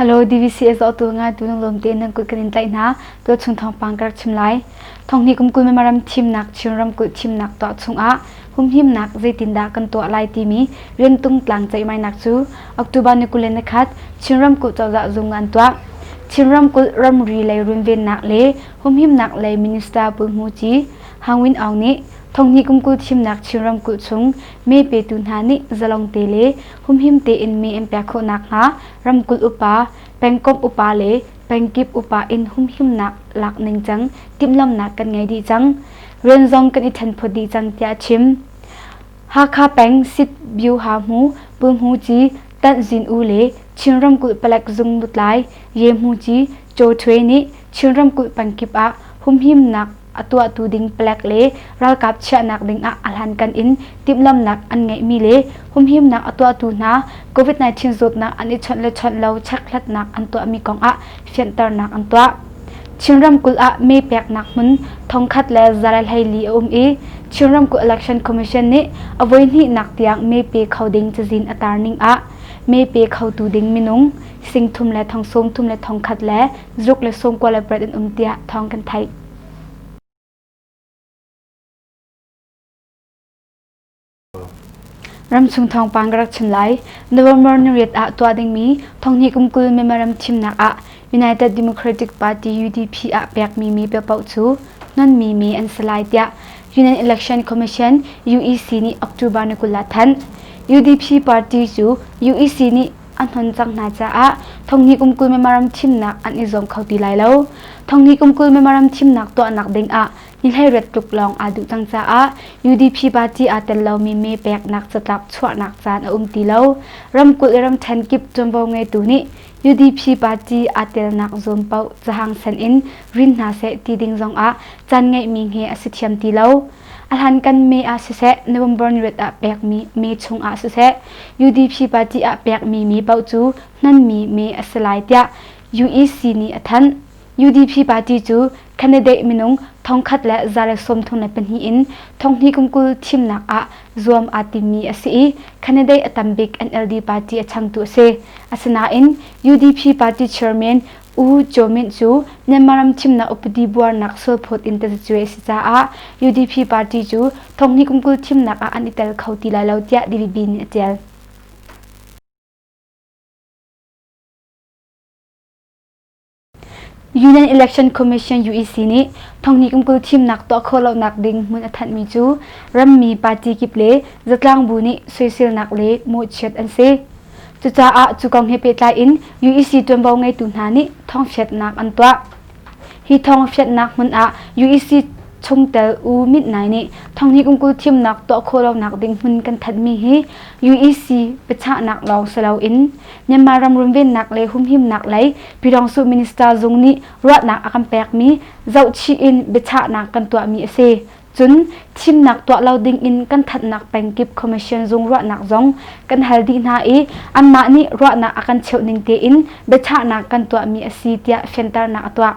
Hello DVCS auto nga tu nang lom te nang kut kan in tai na to chung thong pang kar chim lai thong ni kum kul me maram thim nak chin ram kul thim nak to chung a hum him nak zeitin da kan to lai ti mi rian tung tlang chai mai nak chu October ni kulen na khat chin ram kul chaw za zung ngan to chin ram kul ram ri lei run ven nak le humhimnak lei minister Pu Hmu Ci, Hang Win Aung nih thonghni kum kul thimnak Chin ramkulh chung mee petu hna nih zalong te le humhim tein mee an pek khawh nakhnga ramkulh upa, pengkomh upa le pengkip upa in humhimnak lak ningcang timhlamhnak kan ngei dih cang. Rian zong kan i thenphawt dih cang tiah a chim. Hakha peng Sit Byu Ha Hmu Pu Hmu Ci, Tanh Zin U le Chin ramkulh palek zung lutlai Ye Hmu Ci Caw Htwe nih Chin ramkulh pan kip ah humhimnak a tuahtu ding palek le ralkap chiahnak ding ah a hlankan in timhlamhnak an ngeihmi le humhimnak a tuahtu hna COVID-19 zawtnak an i chawnh le chawnh lo chekhlatnak an tuahmi kong ah fianhternak an tuah. Chin ramkulh ah mee peknak hmun thongkhat le zarel hleili a um i Chin ramkulh Election Commission nih a voihnihnak tiang mee pe kho ding cazin a tar ning ah mee pe khotu ding minung singthum le thong sawmthum le thong khat le zuk le sawmkua le parat in um tiah thawng kan theih. Ramchung thawngpang ka rak chim lai. November niriat ah tuah dingmi thonghni kum kul memorandum thimnak ah United Democratic Party UDP ah pekmi mi paoh cu nonmi mi an si lai tiah Union Election Commission UEC nih October ni kul ah thanh. UDP party cu UEC nih a hnon cang hna caah Thonghni kumkul memorandum thimnak an i zuam kho ti lai lo. Thonghni kumkul memorandum thimnak tuahnak ding ah nihleiret tluk lawng aa duh cang caah UDP party aa tel lomi me peknak catlap chuahnak caan a um ti lo. Ramkulh le ramṭhen kip ṭuanvo ngeitu nih UDP party aa telnak zuam paoh cahang san in rin hna seh ti ding zong ah caan ngeihmi he a si thiam ti lo. Ahlankan me ah siseh November ni rit ah pekmi me chung ah siseh UDP party ah pekmi mi paoh cu hnonmi me a si lai tiah UEC nih a thanh. UDP party cu candidate minung thongkhat le zarek sawmthum le pahnih in thonghni kumkul thimnak ah zuam aa timmi a si i candidate a tam bik NLD party a changtu a si. Asinain UDP party chairman U Kyaw Myint cu Myanmar ram thimnak upadi buarnak sualphawt in tazacuai a si caah UDP party cu thonghni kum kul thimnak ah an i tel kho ti lai lo tiah Davidi nih a ṭial. Union Election Commission UEC nih thonghni kum kul thimnak tuah khawh lonak ding hmun a thanhmi cu rammi party kip le zatlang bu nih soiselnak le mawhchiat an si. Cucaah cu kong he pehtlai in UEC ṭuanvo ngeitu hna nih thawngchiatnak an tuah. Hi thawngchiatnak hmun ah UEC chungtel U Mit Nai nih thonghnih kul thimnak tuah khawh lonak ding hmun kan thanhmi hi UEC biachahnak lawng si loin Myanmar ram runvennak le humhimnak lei Pyidawngsu Minister zung nih ruahnak a kan pekmi zohchih in biachahnak kan tuahmi a si. Cun thimnak tuah lo dingin kan thatnak pengkip commission zung ruahnak zong kan hal dih hna i anmah nih ruahnak a kan cheuh ning tein biachahnak kan tuahmi a si tiah fianternak a tuah.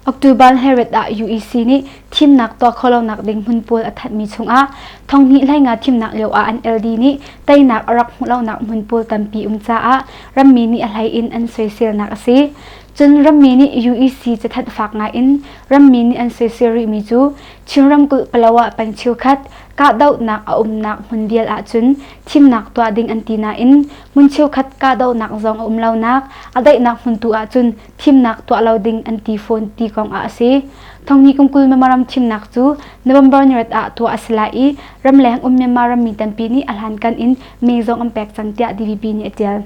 October Herald ah UEC nih thimnak tuah khawhlonak ding hmun pawl a thatmi chungah thonghnih hleinga thimnak lio ah an LD nih teinak a rak hmuhlonak hmun pawl tampi um caah rammi nih a hlei in an soiselnak a si. Cun rammi nih UEC cathanh fak ngaiin rammi nih an soisel rihmi cu Chin ramkulh Palawa peng cheukhat kahdohnak a umnak hmun vial ahcun thimnak tuah ding an ti nain hmun cheukhat kahdohnak zong a um lonak a daihnak hmun tu ahcun thimnak tuah lo ding an ti fawn ti kong ah a si. Thonghni kum kul Myanmar ram thimnak cu November ni rat ah tuah a si lai i ramleng um Myanmar rammi tampi nih a hlankan in meng zong an pek cang tiah DVB nih a tial.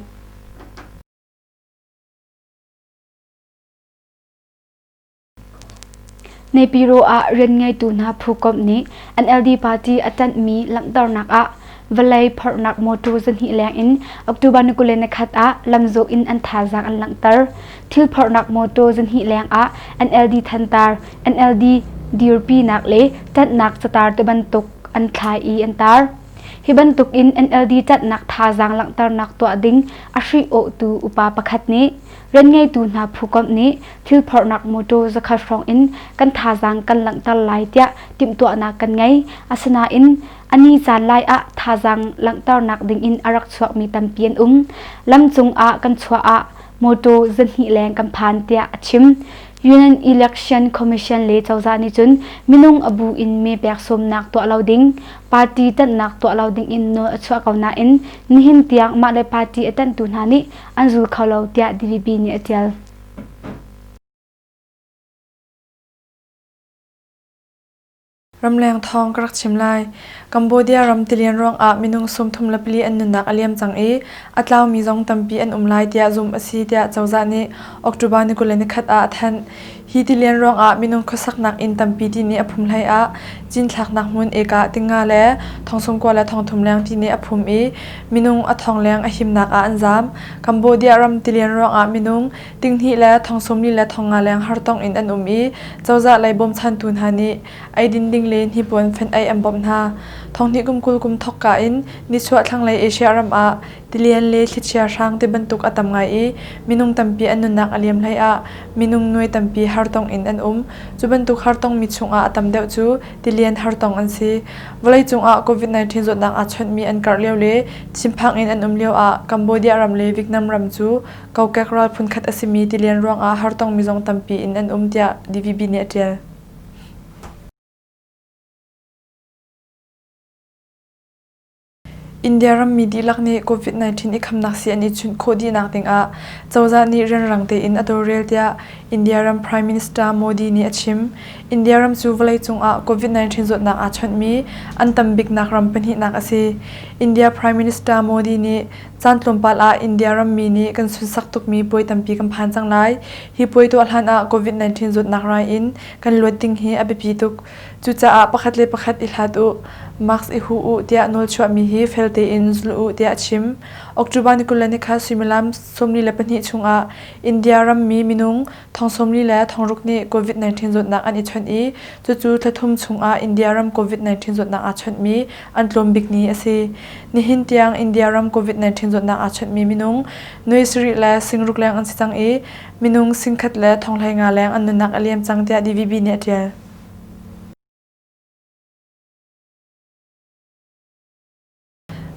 Nepiro ah rian ngeitu hna phukomh nih NLD party a ṭanhmi langhternak ah vawlei phorhnak mawṭaw zahnih lengin October ni kul le nikhat ah lamzawh in an thazaang an langhter. Thil phorhnak mawṭaw zahnih lengah NLD thantar, NLD dirpinak le ṭanhnak catar te bantuk an thlai i an tar. Hi bantuk in NLD ṭanhnak thazaang langhternak tuah ding a hrih-awhtu upa pakhat nih rian ngeitu hna phukomh nih thilphorhnak mawṭaw zakhat hrawng in kan thazaang kan langhter lai tiah timhtuahnak kan ngei. Asinain a ni caan lai ah thazaang langhternak ding in a rak chuakmi tampi an um. Lam cung ah kan chuah ah mawṭaw zahnih leng kan phan tiah a chim. Union Election Commission le cozah nih cun minung a bu in mee pek sawmnak tuah lo ding, party tanhnak tuah lo ding in nawl a chuah ko nain nihin tiang mah le party a tanhtu hna nih an zul kho lo tiah DVB nih a tial. Ramleng thawng ka rak chim lai. Cambodia ram tilian ruangah minung sawmthum le pali an nunnak a liam cang i a tlaumi zong tampi an um lai tiah zumh a si tiah cozah nih October ni kul le nikhat ah a thanh. Hi tilian ruangah minung khuasaknak inn tampi ti nih a phum hlei ah cinthlaknak hmun eka tinga le thongsungkua le thongthum leng ti nih a phum i minung a thong leng a himnak ah an zaam. Cambodia ram tilian ruangah minung Tinghnih le thong sawmli le thong nga leng hartong in an um i cozah lei bawmchantu hna nih eidin ding le hnipuan fenh ei an bawmh hna. Thonghnih kum kul kum thokka in nichuah thlanglei Asia ram ah tilian le thlichia hrang ti bantuk a tam ngai i minung tampi an nunnak a liam hlei ah minung nuai tampi hartong in an um. Cu bantuk hartongmi chungah a tam deuh cu tilian hartong an si. Vawleicung ah COVID-19 zawtnak aa chawnhmi an karh lio le chimphaang in an um lio ah Cambodia ram le Vietnam ram cu kokek rawl phunkhat a simi tilian ruangah hartong mizong tampi in an um tiah DVB nih a ṭial. India rammi dihlak nih COVID-19 i khamnak sii an i chunh khawh dihnak dingah cozah nih rianrang tein a tawlrel tiah India ram Prime Minister Modi nih a chim. India ram cu vawleicung ah COVID-19 zawtnak aa chawnhmi an tam biknak ram pahnihnak a si. India Prime Minister Modi nih Caan tlawmpal ah India rammi nih kan sunsak tukmi puai tampi kan phan cang lai. Hi puai tuah hlan ah COVID-19 zawtnak rai in kan luat ding hi a biapi tuk. Cucaah pakhat le pakhat i hlat u, mask i hu u tiah nawlchuahmi hi fel tein zul u tiah a chim. October ni kul le ni kha suimilam sawmli le pahnih chungah India rammi minung Thong sawmli le thong ruk nih COVID-19 zawtnak an i chawnh i cucu thla thum chungah India ram COVID-19 zawtnak aa chawnhmi an tlawm bikni a si. Nihin tiang India ram COVID-19 zawtnak aa chawnhmi minung nuai sarih le singruk leng an si cang i minung singkhat le thonghlei nga leng an nunnak a liam cang tiah DVB nih a ṭial.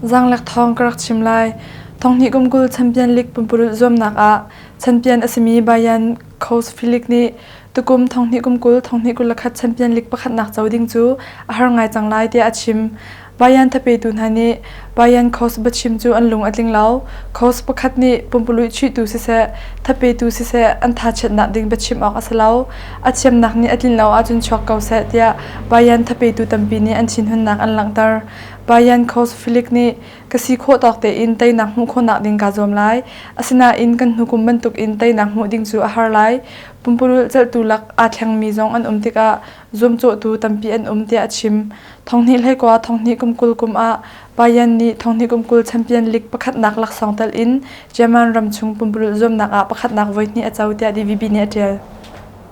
Zaanglek thawng ka rak chim lai. Thonghnih kum kul Champion League pumpurulh zuamnak ah champion a simi Bayern Khosfillig nih tukum thonghnih kum kul thonghnih kul le khat Champion League pakhatnak co ding cu a har ngai cang lai tiah a chim. Bayern thapetu hna nih Bayern Khos biachim cu an lung a tling lo. Khos pakhat nih pumpululh chuihtu siseh, thapetu siseh an thachiatnak ding biachim awk a si lo. A thiamnak nih a tlin lo ahcun chuak ko seh tiah Bayern thapetu tampi nih an thinhunnak an langhter. Bayan Khosfilik nih, Ka si khawh tawk tein teinak hmuh khawhnak ding kaa zuam lai. Asinain kan hnukum bantukin teinak hmuh ding cu a har lai. Pumpululh celhtu lak aa thlengmi zong an um tikah zuamcawhtu tampi an um tiah a chim. Thonghnih hleikua thonghnih kum kul kum ah Bayan nih thonghnih kum kul champion league pakhatnak laksawng telh in Jerman ram chung pumpululh zuamnak ah pakhatnak voihnih a co tiah DVB nih a ṭial.